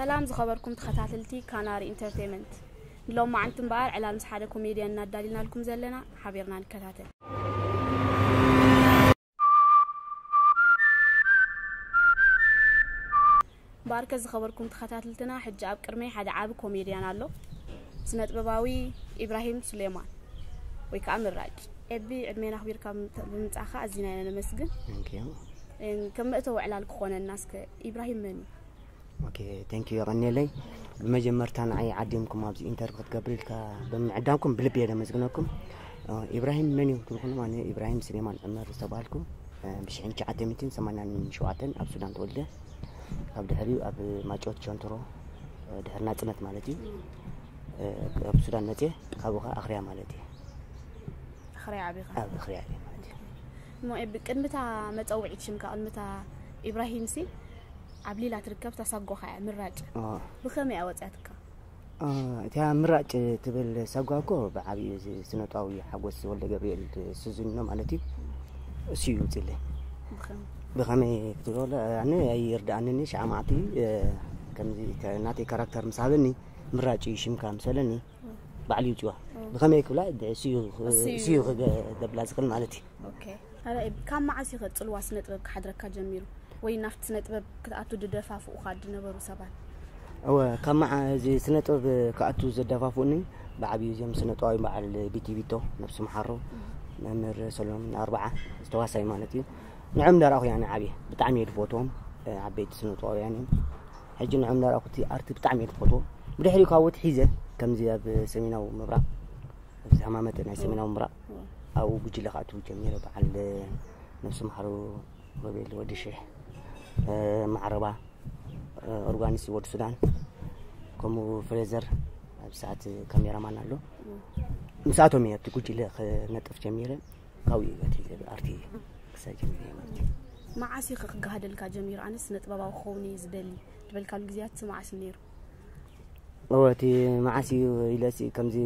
ሰላም ዝኸበርኩም ተኸታተልቲ ካናሪ ኢንተርቴንመንት ንሎማዓንቲ እምበኣር ዕላል ምስ ሓደ ኮሜድያን እናዳሊናልኩም ዘለና ሓቢርና ንከታተል ባርከ ዝኸበርኩም ተኸታትልትና ሕጂ ኣብ ቅድመይ ሓደ ዓቢ ኮሜድያን ኣሎ ስነጥበባዊ ኢብራሂም ሱሌማን ወይ ከዓ ምራጭ ኤቢ ዕድሜና ኣኽቢርካ ብምምፃእካ ኣዚና ኢና ነመስግን ከም መእተዊ ዕላል ክኾነና እስከ ኢብራሂም መን እዩ ኦኬ ቴንኪዩ የቐኔለይ ብመጀመርታ ንዓይ ዓዲምኩም ኣብዚ ኢንተርቪ ክትገብር ኢልካ ብምዕዳምኩም ብልቢ እየ ደመስግነኩም ኢብራሂም መን እዩ ትብልኩኑ ኣነ ኢብራሂም ስሌማን ዕመር ዝተባሃልኩ ብሽሕን ትሽዓተ ሚትን ሰማንያን ሸውዓተን ኣብ ሱዳን ተወልደ ካብ ድሕሪኡ ኣብ ማጮት ቸንትሮ ድሕሪ ናፅነት ማለት እዩ ኣብ ሱዳን መፅየ ካብኡ ከዓ ኣኽርያ ማለት እዩ ኣኽርያ ዓቢኻ ኣብ ኣኽርያ እየ ማለት እዩ እሞ ቅድሚታ መፀውዒት ሽምካ ቅድሚታ ኢብራሂም ሲ ዓብሊላ ትርከብ እታ ሳጓኻ እያ ምራጭ ብኸመይ እያ ወፂኣትካ እቲያ ምራጭ ትብል ሳጓ እኮ ብዓብዩ ስነጥባዊ ሓጎስ ወልደ ገብርኤል ስዙኖ ማለት እዩ እሱ እዩ ውፅለይ ብኸመይ ክትብሎ ኣነ ኣይርድኣንኒ ሸዓ መዓልቲ ከምዚ ናተይ ካራክተር ምስ ሃበኒ ምራጭ እዩ ሽምካ ምስ በለኒ ባዕሉ ይውፅዋ ብኸመይ ክብላ ስዩ ክገብላ ዝኽእል ማለት እዩ ካብ መዓስ እዩ ከፅልዋ ስነ ጥበብ ክሓድረካ ጀሚሩ ወይ ናብቲ ስነ ጥበብ ክትኣቱ ድደፋፍኡካ ድነበሩ ሰባት እወ ካብ መዓ እዚ ስነ ጥበብ ክኣቱ ዘደፋፍኡኒ ብዓብዩ እዚኦም ስነ ጥበባዊ በዓል ቢቲ ቢቶ ነብሲ መሓሮ መምህር ሰሎሞን ኣርባዓ ዝተዋሳይ ማለት እዩ ንዕም ዳርኣኹ ያነ ዓብየ ብጣዕሚ እየ ድፈትዎም ዓበይቲ ስነ ጥበባውያን እዮም ሕጂ ንዖም ናራኩቲ ኣርቲ ብጣዕሚ እየ ዝፈትዎ ብድሕሪኡ ካብ ወት ሒዘ ከምዚ ኣብ ሰሜናዊ ምብራቕ ኣብዚ ሃማመተ ናይ ሰሜናዊ ምብራቕ ኣብኡ ጉጅለ ክኣትው ጀሚረ በዓል ነብሲ መሓሩ ሮቤል ወዲ ሽሕ ማዕረባ ኦርጋኒስ ወዲ ሱዳን ከምኡ ፍሬዘር ኣብ ሰዓት ካሜራማን ኣሎ ምስኣቶም እየ ኣብቲ ጉጅለ ክነጥፍ ጀሚረ ካብኡ እዩ መጺኡ ዘሎ ኣርት እዩ ክሳብ ጀሚረ እዩ መጺኡ መዓስ እዩ ክክጋሃደልካ ጀሚሩ ኣነ ስነ ጥበባዊ ክኸውን እዩ ዝደሊ ዝበልካሉ ግዜያት መዓስ እዩ ነይሩ እወ እቲ መዓስ እዩ ኢለሲ ከምዚ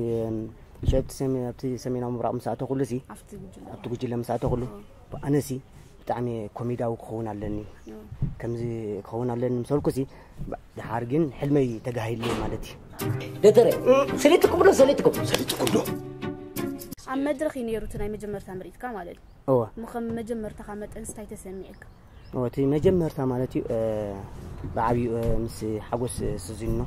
ሸብቲ ኣብቲ ሰሜናዊ ምብራቕ ምስ ኣተኹሉሲ ኣብቲ ጉጅለ ምስ ኣተኹሉ ኣነሲ ብጣዕሚ ኮሜዳዊ ክኸውን ኣለኒ ከምዚ ክኸውን ኣለኒ ምስ በልኩሲ ድሓር ግን ሕልመይ ተጋሂሉ ማለት እዩ ደተረ ሰሌትኩም ዶ ሰሌትኩም ሰሌትኩም ዶ ኣብ መድረኽ እዩ ነይሩ እቲ ናይ መጀመርታ ምርኢትካ ማለት እዩ እወ እሞ ከም መጀመርታኻ መጠን ስታይ ተሰሚዐካ እወ እቲ መጀመርታ ማለት እዩ ብዓብዩ ምስ ሓጎስ ስዚኖ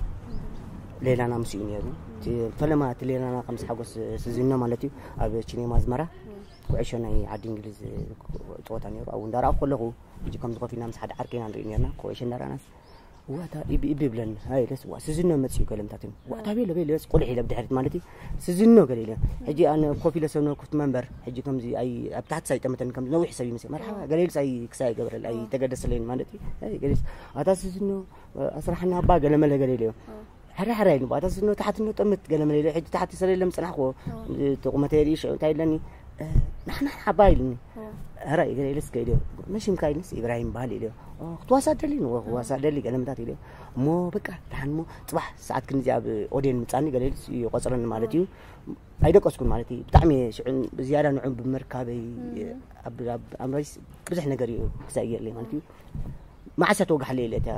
ሌላና ምስ እዩ ነይሩ እቲ ፈለማ እቲ ሌላና ከም ምስ ሓጎስ ስዚኖ ማለት እዩ ኣብ ቺኔማ ኣዝመራ ኩዕሾ ናይ ዓዲ እንግሊዝ ፀወታ ነይሩ ኣብኡ እንዳረኣኹ ከለኹ ሕጂ ከምዚ ኮፍ ኢልና ምስ ሓደ ዓርቂ ኢና ንርኢ ነርና ኩዕሾ እንዳረኣናስ ዋታ ኢቢ ኢቢ ብለን ሃይለስ ዋ ስዝኖ መፅኡ ገለምታትን ዋታ ቤለ ቤለስ ቁልሕ ኢለ ብድሕሪት ማለት እዩ ስዝኖ ገለ ኢለ ሕጂ ኣነ ኮፍ ኢለ ሰብ ነበርኩት መንበር ሕጂ ከምዚ ኣይ ኣብ ታሕቲ ሳይጠመተን ከም ነዊሕ ሰብ ይመስል መርሓባ ገለ ኢልስ ኣይ ክሳ ይገብረል ኣይ ተገደስለይን ማለት እዩ ገለስ ኣታ ስዝኖ ኣስራሕና ኣባ ገለ መለ ገለ ኢለ ሕራይ ሕራይ ኢሉ ባታ ስኖ ታሕቲ ኖ ጠምት ገለ መለ ሕጂ ታሕቲ ሰለ ለም ጽናሕኮ ተቁመተ የርኢ ሽዑ እንታይ ኢለኒ ናሕና ሓባ ኢልኒ ሕራይ ገለ ኢለስ ከ ኢልዮ መሽምካ ኢልንስ ኢብራሂም በሃል ኢልዮ ክትዋሳ ደሊ ንወ ክዋሳ ደሊ ገለ ምታት ኢልዮ እሞ በቃ ደሓን እሞ ጽባሕ ሰዓት ክንዚ ኣብ ኦዴን ምጻኒ ገለ ኢልስ ይቆጽረኒ ማለት እዩ ኣይደቀስኩን ማለት እዩ ብጣዕሚ ሽዑ ብዝያዳ ንዑ ብምርካበይ ኣብ ኣምራይስ ብዙሕ ነገር እዩ ክሳይ ገርለይ ማለት እዩ መዓሰ ተወጋሕ ለይለ እታ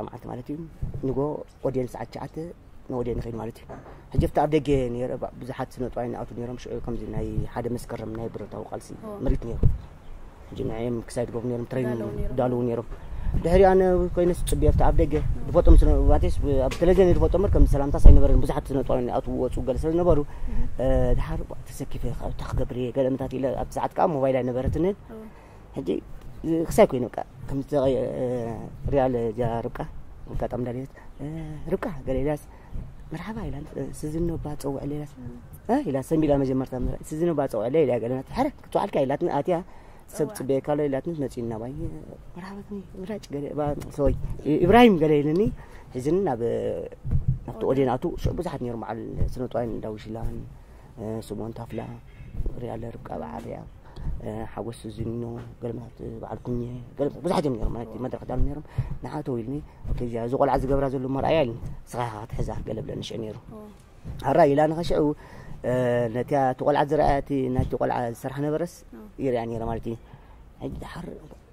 መዓልቲ ማለት እዩ ንጎ ኦዴን ሰዓት ሸዓተ ንኦዴን ንኸይድ ማለት እዩ ሕጂ ኣብቲ ኣብ ደገ ነረ ብዙሓት ስነጥዋይ ንኣቱ ነሮም ሽዑ ከምዚ ናይ ሓደ መስከረም ናይ ብረታዊ ቃልሲ ምርኢት ነይሩ ሕጂ ንዕም ክሳይ ድገብሩ ነሮም ትሬን ዳልው ነሮም ድሕሪ ኣነ ኮይነስ ፅቢ ኣብቲ ኣብ ደገ ድፈጦም ስነባቴስ ኣብ ቴሌቪዥን ድፈጦ ምር ከም ሰላምታ ሳይነበረን ብዙሓት ስነጥዋይ ንኣቱ ወፁ ገለ ስለዝነበሩ ድሓር ተሰኪፈ እታ ክገብር እየ ገለ ምታት ኢለ ኣብቲ ሰዓት ከዓ ሞባይል ኣይነበረትንን ሕጂ ክሳይ ኮይኑ ቃ ከምቲ ሪያል እዛ ርብቃ ኣጋጣሚ ዳሌት ርብቃ ገለ ኢላስ መርሓባ ኢላ ስዝኖ ባ ፀውዕ ሌላስ ኢላ ሰንቢላ መጀመርታ ስዝኖ ባ ፀውዕ ለ ኢላ ገለናት ሕረ ክትውዓልካ ኢላትኒ ኣትያ ሰብ ፅበየካ ኣሎ ኢላትኒ መፂና ባይ መርሓባ ምራጭ ገለ ሰወይ ኢብራሂም ገለ ኢልኒ ሕዝኒ ናብ ናብቲ ኦዴን ኣቱ ብዙሓት ነይሮም በዓል ስነጥዋይን ዳዊሽላን ስምኦን ታፍላ፣ ፍቅሪ ኣለ፣ ርብቃ በዓልያ፣ ሓጎስ ዝኖ፣ ገለመት በዓል ኩኘ፣ ገለ ብዙሓት እዮም ነይሮም ማለት መድረኽ ዳሉ ነይሮም። ንዓቶ ኢልኒ እዚኣ እዚ ቆልዓ ዝገብራ ዘሎ መርኣያ ኢልኒ ስኻ ክትሕዛ ገለ ብለኒ ሽዑ ነይሩ ኣራ ኢላ ንኸሽዑ ነቲ እቲ ቆልዓ ዝረኣያ እቲ ናይቲ ቆልዓ ዝሰርሓ ነበረስ ይርያ ነይረ ማለት እዩ ሕጂ ድሓር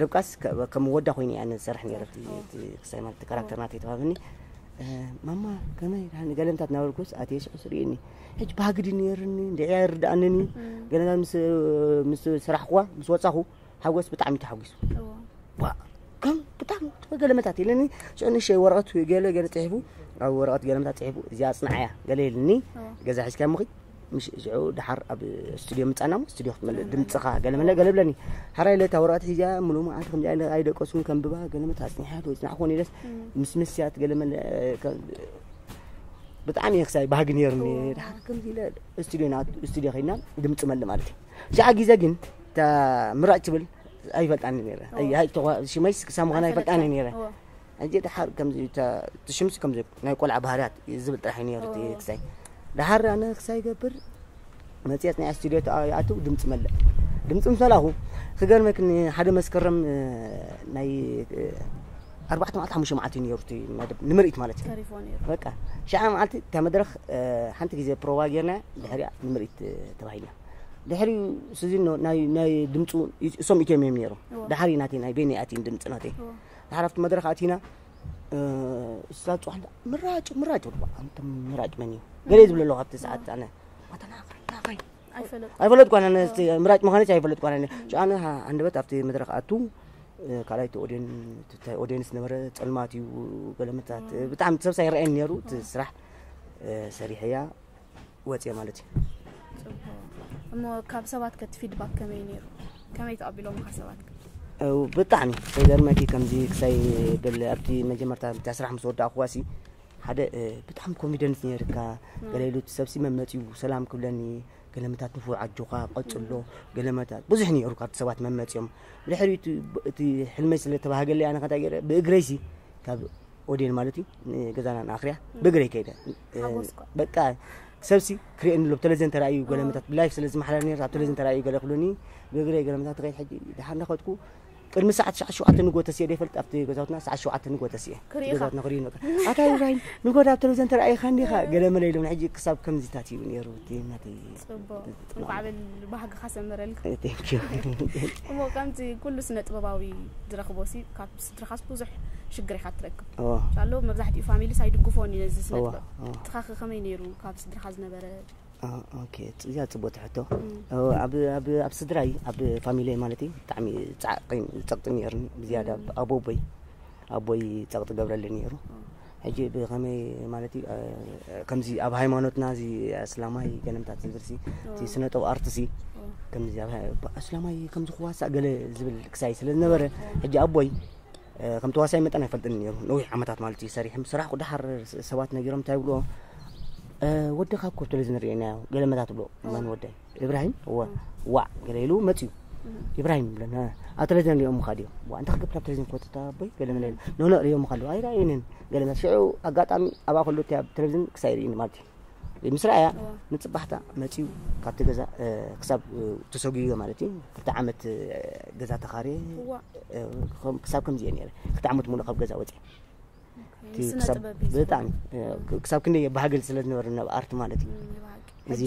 ርብቃስ ከም ወዳ ኮይኑ እያ ንዝሰርሕ ነይረ ክሳይ ማለት ካራክተር ናተይ ተዋብኒ ማማ ከመይ ዳኒ ገለንታት ናበልኩስ ኣትየ ሽቕስ ርእኒ ሕጂ ባህግዲ ነይርኒ እንድዕያ ይርድኣንኒ ገለንታት ምስ ስራሕኩዋ ምስ ወፃኹ ሓጎስ ብጣዕሚ ተሓጒሱ ከም ብጣዕሚ ገለመታት ኢለኒ ሽዑ ንእሸተይ ወረቐት ገለ ገለ ፅሒፉ ኣብ ወረቐት ገለመታት ፅሒፉ እዚኣ ኣፅንዓያ ገለ ኢልኒ ገዛ ሒዝካ ምኺ ምስ እዚዑ ድሓር ኣብ ስቱድዮ ምፃናሞ ስቱድዮ ክትመልእ ድምፅኻ ገለመለ ገለብለኒ ሓራይ ለታ ወረቐት ሒዚያ ሙሉ መዓልቲ ከምዚ ኣይለ ኣይደቀስኩን ከምብባ ገለመት ኣፅኒሓት ወይ ፅናዕኮን ኢለስ ምስ መስያት ገለመለ ብጣዕሚ እየ ክሳይ ባህጊ ነይሩኒ ድሓር ከምዚ ኢለ ስቱድዮ ና ስቱድዮ ከይድና ድምፂ መልእ ማለት እዩ ሸዓ ግዜ ግን እታ ምራጭ ትብል ኣይፈልጣኒ ነይረ ሽመይስ ክሳብ ምዃና ኣይፈልጣኒ ነይረ ሕጂ ደሓር ከምዚ እታ እቲ ሽምሲ ከምዚ ናይ ቆልዓ ባህርያት ዝብል ጥራሕ እዩ ነይሩ እቲ ክሳይ ደሓር ኣነ ክሳይ ገብር መጽሔት ናይ ስቱድዮ ይኣትው ድምፂ መለእ ድምፂ ምስ መላኹ ክገርመክ ሓደ መስከረም ናይ ኣርባዕተ መዓልቲ ሓሙሽተ መዓልቲ እዩ ነይሩ እቲ መደብ ንምርኢት ማለት እዩ ተሪፎ ነይሩ በቃ ሸዓ መዓልቲ እታ መድረኽ ሓንቲ ግዜ ፕሮቫ ጌርና ድሕሪያ ንምርኢት ተባሂልና ድሕሪ ስዚኖ ናይ ድምፁ እሶም ኢትዮም እዮም ነይሮም ድሓሪ ናተይ ናይ ቤኒ ኣትይን ድምፂ ናተይ ድሓር ኣብቲ መድረኽ ኣቲና እዛ ፅዋሕ ምራጭ ምራጭ ወድባ ኣንተ ምራጭ መን እዩ ገለ ዝብለ ኣለኹ ኣብቲ ሰዓት ኣነ ዋተናኸናኸይ ኣይፈለጥ ኳነ ምራጭ ምዃነች ኣይፈለጥ ኳነ ጫነ ኣንደበት ኣብቲ መድረኽ ኣቱ ካልኣይቲ ኦዴን ትታይ ኦዴንስ ነበረ ፀልማት እዩ ገለመታት ብጣዕሚ ሰብሳ ይረአየኒ ነይሩ እቲ ስራሕ ሰሪሐያ ወጽየ ማለት እዩ። ጽቡቕ እሞ ካብ ሰባት ከቲ ፊድባክ ከመይ ነይሩ? ከመይ ተቐቢሎምካ ሰባት? ብጣዕሚ ከይገርመኪ ከምዚ ክሳይ ብል ኣብቲ መጀመርታ ብታ ስራሕ ምስ ወዳእኩዋሲ ሓደ ብጣዕሚ ኮንፊደንስ ነይርካ ገለ ኢሉ ሰብሲ መመፅኡ ሰላም ክብለኒ ገለመታት ንፉዕ ኣጆኻ ቀፅሎ ገለመታት ብዙሕ ነይሩ ካብቲ ሰባት መመፅኦም ድሕሪ እቲ ሕልመይ ስለተባሃገለይ ኣነ ከንታይ ገይረ ብእግረይሲ ካብ ኦዴን ማለት እዩ ንገዛና ንኣኽርያ ብእግረይ ከይደ በቃ ሰብሲ ክርእየኒ ኣሎ ብቴሌቪዥን ተራእዩ ገለመታት ብላይፍ ስለ ዝመሓላለፍ ነርስ ኣብ ቴሌቪዥን ተራእዩ ገለ ክብሉኒ ብእግረይ ገለመታት ትኸይድ ሕጂ ድሓር እንዳኸድኩ ቅድሚ ሰዓት ትሽዓት ሸውዓተ ንጎ ተስየ ዶ ይፈልጥ ኣብቲ ገዛውትና ሰዓት ሸውዓተ ንጎ ተስየ ገዛውትና ክርእዩ ነበር ኣታ ኢብራሂም ንጎ ኣብ ቴሌቪዥን ተራእይካ እንዲኻ ገለ መለ ኢሎም ሕጂ ክሳብ ከምዚታት እዩ ነይሩ ናተይ እንቋዕ በል ባህግኻ ሰመረልካ። Thank you። እሞ ከምቲ ኩሉ ስነ ጥበባዊ ዝረኽቦ ሲ ካብ ስድራኻስ ብዙሕ ሽግር ኢኻ ትረክብ እዎ ሻሎ መብዛሕትኡ ፋሚሊስ ኣይድግፎን እዩ ነዚ ስነ እዎ ጥበብ እዎ ንስኻኸ ከመይ ነይሩ ካብ ስድራኻ ዝነበረ ኦ- ኦኬ ጽ- እዚኣ ጽቡቕቲ ሕቶ ኦ፣ ኣብ ኣብ ኣብ ስድራይ ኣብ ፋሚለይ ማለት እዩ ብጣዕሚ ጻዕቒን ጸቕጢን ነይሩኒ ብዝያዳ ብ- ኣቦቦይ ኣቦይ ጸቕጢ ገብረለይ ነይሩ ሕጂ ብከመይ ማለት እዩ ከምዚ ኣብ ሃይማኖትና እዚ ኣስላማይ ገለምታት ዝብልሲ እቲ ስነጥብ ኣርትሲ ከምዚ ኣስላማይ ከምዚ ክዋሳእ ገለ ዝብል ክሳይ ስለ ዝነበረ ሕጂ ኣቦይ ከም ተዋሳይ መጠን ኣይፈልጥን ነይሩ ነዊሕ ዓመታት ማለት እዩ ሰሪሖም ስራሕ ቁድሓር ሰባት ነጊሮም እንታይ ይብልዎ ወድኻ ኮብተለ ዝንርእየናዮ ገለመታት ብሎ መን ወደይ ኢብራሂም እወ ዋዕ ገለ ኢሉ መፅዩ ኢብራሂም ብለን ኣብ ቴሌቪዥን ሪኦም ምካ ድዮም ዋ እንታይ ክገብር ኣብ ቴሌቪዥን ኮተታ ኣቦይ ገለ መለ ኖኖ ሪኦም ምካ ኣለዎ ኣይረኣዩንን ገለ መለ ሽዑ ኣጋጣሚ ኣብኣ ከሎ እቲ ኣብ ቴሌቪዥን ክሳይ ርእኒ ማለት እዩ ምስ ረኣያ ንፅባሕታ መፅዩ ካብቲ ገዛ ክሳብ ተሰጉዮ ማለት እዩ ክልተ ዓመት ገዛ ተኻርየ ክሳብ ከምዚ እየ ነረ ክልተ ዓመት ሙሉእ ካብ ገዛ ወፅየ ብጣዕሚ ክሳብ ክንደይ ባህግል ስለ ዝነበረ ናብ ኣርት ማለት እዩ እዚ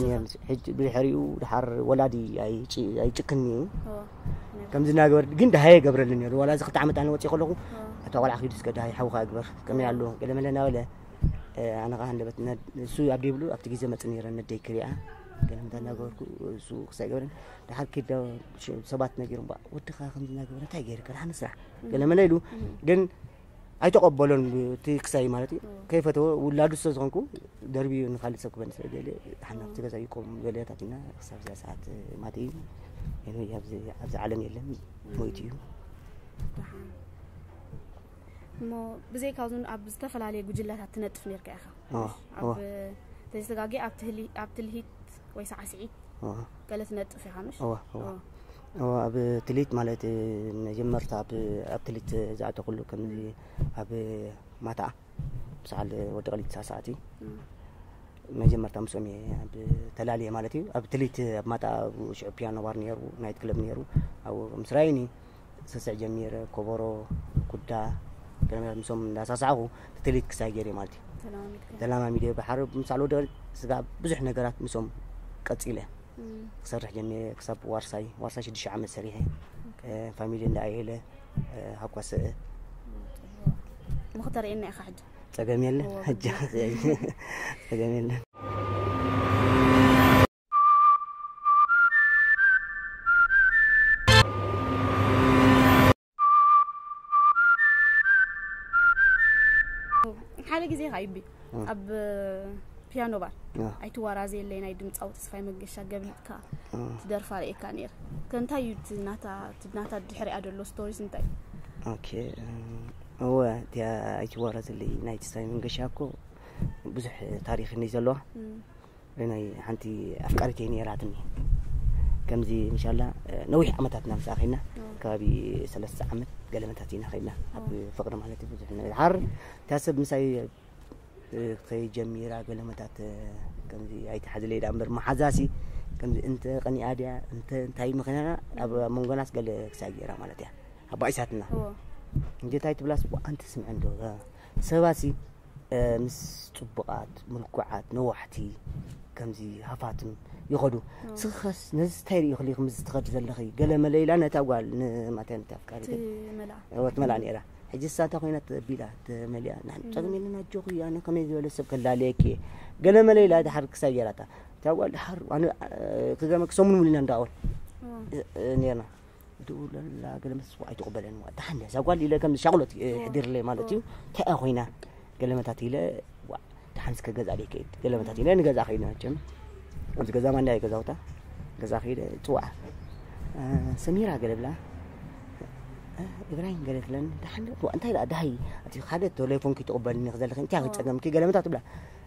ብድሕሪኡ ድሓር ወላዲ ኣይጭክን እዩ ከምዚ እናገበር ግን ድሃየ ገብረልን ነሩ ዋላ እዚ ክልተ ዓመት ኣነ ወፂ ከለኹ እታ ቆልዓ ክዱ እስከ ድሃይ ሓውካ ግበር ከመይ ኣሎ ገለመለ እናበለ ኣነ ከዓ ንበት እሱ ኣብ ደብሉ ኣብቲ ግዜ መፅ ነረ ነደይ ክሪኣ ገለምታ እናገበርኩ እሱ ክሳይ ገብረን ድሓር ክዳ ሰባት ነጊሮም ወድኻ ከምዚ እናገበረ እንታይ ገይርካ ድሓን ስራሕ ገለመለ ኢሉ ግን ኣይተቐበሎን እቲ ክሳይ ማለት እዩ ከይፈተወ ውላዱ ስለ ዝኾንኩ ደርብዩ ንካልእ ሰብ ክበኒ ስለ ደልየ ተሓናፍቲ ገዛ ይቆም በለታትና ክሳብ እዛ ሰዓት ማት እዩ ኤንወይ ኣብዚ ኣብዚ ዓለም የለን ሞይቱ እዩ ደሓን እሞ ብዘይ ካብዚ ኣብ ዝተፈላለየ ጉጅለታት ትነጥፍ ነርካ ኢኻ ዋ፣ ኣብ ዋ። ተዘጋጊ ኣብ ትህሊ- ኣብ ትልሂት ወይ ሳዕስዒት ዋ፣ ገለ ትነጥፍ ኢኻ ምሽ እዋ፣ እዋ። እዎ። እወ ኣብ ትሊት ማለት መጀመርታ ኣብ ኣብ ትሊት ዝኣተኹሉ ከምዚ ኣብ ማታ ብሰዓል ወዲ ቀሊት ሳሳዕቲ መጀመርታ ምስኦም እየ ኣብ ተላልየ ማለት እዩ ኣብ ትሊት ኣብ ማታ ኣብ ሽዑ ፒያኖ ባር ነይሩ ናይት ክለብ ነይሩ ኣብ ምስ ራይኒ ስስዕ ጀሚረ ኮቦሮ ኩዳ ገለመላት ምስኦም እንዳሳሳዕኹ ትሊት ክሳይ ገይረ ማለት እዩ ተላማሚድ እየ ብሓር ምሳል ወዲ ስጋ ብዙሕ ነገራት ምስኦም ቀፂለ ክሰርሕ ጀሚረ ክሳብ ዋርሳይ ዋርሳይ ሽዱሽተ ዓመት ሰሪሐ ፋሚሊ እንዳ ኣየለ ሃቋሰ ንክተርእየና ኢኻ ሕጂ ጸገም የለን ሕጂ ጸገም የለን ሓደ ግዜ ኸዓ ይቢ ኣብ ፒያኖ ባር ኣይትዋራዘ የለይ ናይ ድምፃዊ ተስፋይ መገሻ ገብሊጥካ ትደርፋ ርእካ ነይረ ከእንታይ እዩ ናታ ድሕሪያ ደሎ ስቶሪስ እንታይ ኦኬ እወ እቲያ ኣይትዋራዘለይ ናይ ተስፋይ መንገሻ እኮ ብዙሕ ታሪክ እኒ ዘለዋ ናይ ሓንቲ ኣፍቃሪተይ ነይራትኒ ከምዚ እንሻላ ነዊሕ ዓመታት ኢና ምስኣ ከይድና ከባቢ ሰለስተ ዓመት ገለመታት ኢና ከይድና ኣብ ፍቅሪ ማለት እዩ ብዙሕ ነገር ሓር እታ ሰብ ምሳይ ከይጀሚራ ገለመታት ከምዚ ኣይትሓዝለይ ዳ እምበር መሓዛሲ ከምዚ እንተ ቀኒኣ ድያ እንተ እንታይ ምክንያና ኣብ መንጎናስ ገለ ክሳይ ገይራ ማለት እያ ኣባኢሳትና እንጀታይ ትብላስ ኣንቲ ስምዐ እንዶ ሰባሲ ምስ ጽቡቃት ምልኩዓት ነዋሕቲ ከምዚ ሃፋትም ይኸዱ ስኸስ ነዚ ታይ ሪኢኹ ሊኹ ምስ ትኸዲ ዘለኺ ገለ መለ ኢላ ነታ ጓል ንማታይ ነታ ኣፍቃሪት ወት መላ ነይራ ሕጂ ሳታ ኮይና ተቢላ ተመሊያ ንሕን ጸግም የለን ኣጆኹ እዩ ኣነ ከመይ ዝበለ ሰብ ከላለየኪ እየ ገለ መለ ኢላ ድሓር ክሳይ ገይራታ እታ ጓል ድሓር ክገርመኪ ሰሙን ሙሉ ኢና እንዳወል ነርና ድውለላ ገለ ምስ ዝፅዋዕ ኣይትቕበለን ዋእ ደሓን እዛ ጓል ኢለ ከም ሻቕሎት የሕዲርለይ ማለት እዩ እንታይ እያ ኮይና ገለመታት ኢለ ዋእ ደሓን እስከ ገዛ ደይ ከይድ ገለመታት ኢለ ንገዛ ከይድ መቸም ኣብዚ ገዛ ማንዳ እየ ገዛውታ ገዛ ከይደ ፅዋዕ ሰሚራ ገለ ብላ ኢብራሂም ገለ ትብለን ደሓን ዋእ እንታይ ደኣ ደሃይ እቲ ሓደ ቴሌፎንኪ ትቕበልኒ ዘለኺ እንታይ ፀገምኪ ገለመታት ብላ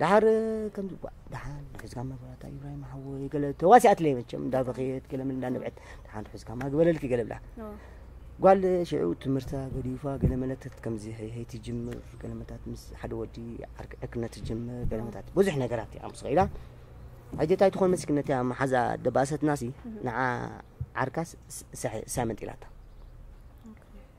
ድሓር ከምዚ ጓዕ ድሓን ርሑስካ መብራታ ኢብራሂም ሓወይ ገለ ተዋሲኣትለይ መቸም እንዳበኸየት ገለ ምን እንዳነብዐት ድሓን ርሑስካ ማግበለልኪ ገለ ብላ ጓል ሽዑ ትምህርታ ገዲፋ ገለ መለተት ከምዚ ሄይ ትጅምር ገለ መታት ምስ ሓደ ወዲ ዕርክነ ትጅምር ገለ መታት ብዙሕ ነገራት እያ ምስ ኸኢላ ሕጂ እንታይ ትኾን መስኪ ነቲ መሓዛ ደባሰትናሲ ንዓ ዓርካስ ሳመንጢላታ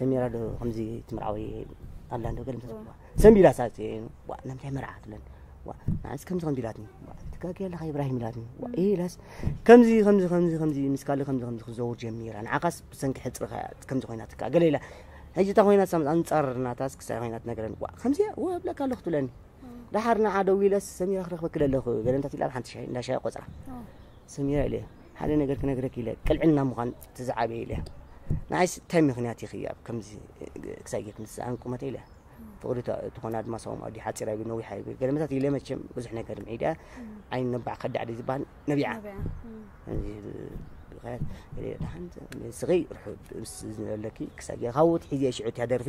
ሰሚራ ዶ ከምዚ ትምርዓዊ ኣላ ዶ ገለ ምሰ ሰንቢላ ሳት ናምታይ መርዓት ለን ንዓስ ከምዚ ከምዚ ኢላትኒ ትጋጊ ኣለኻ ኢብራሂም ኢላትኒ ኢላስ ከምዚ ከምዚ ከምዚ ከምዚ ምስ ካልእ ከምዚ ከምዚ ክዘውር ጀሚራ ንዓኻስ ብሰንኪ ሕፅርኻ ከምዚ ኮይና ትካ ገለ ኢላ ሕጂ እታ ኮይና ሳምፅ ኣንፃር ናታስ ክሳይ ኮይና ትነግረኒ ከምዚ ወብለካ ኣለኹ ትብለኒ ድሓር ንዓ ደው ኢለስ ሰሚራ ክረኽበኪ ኣለኹ ገለ እንታት ኢላ ኣብ ሓንቲ ሻይ እንዳ ሻይ ቆፅራ ሰሚራ ኢለ ሓደ ነገር ክነግረኪ ኢለ ቅልዕልና ምዃን እቲ ዝዓበየ ኢለ ንዓይስ እንታይ ምክንያት ኢኺ ኣብ ከምዚ ክሳይ ጌት ንስኣን ቁመተ ኢለ ፍቕሪ ትኾና ድማ ሳዎም ኣዲ ሓፂር ኣይብል ነዊሕ ኣይብል ገለመታት ኢለ መቸም ብዙሕ ነገር ምዒዳ ዓይን ነባዕ ከዳዕ ደ ዝበሃል ነቢዓ ድሓን ስኺ ርሑብ ዝነበለኪ ክሳይ ካብኡ ትሒዘ ሽዑ እትያ ደርፊ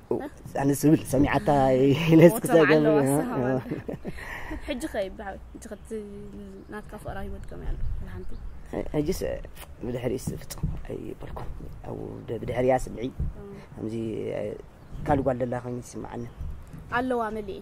ኣነ ስብል ሰሚዓታ ኢለስ ክሰገም ሕጂ ከ ብሓዊ ሕጂ ከቲ ናትካ ፍቕራ ሂወት ከመይ ኣሎ ብሓንቲ ሕጂስ ብድሕሪስ ፍጹም ኣይበልኩም ኣብ ብድሕሪያ ስምዒ ከምዚ ካልእ ጓል ደላ ኮይኑ ይስምዓኒ ኣለዋ መሊእ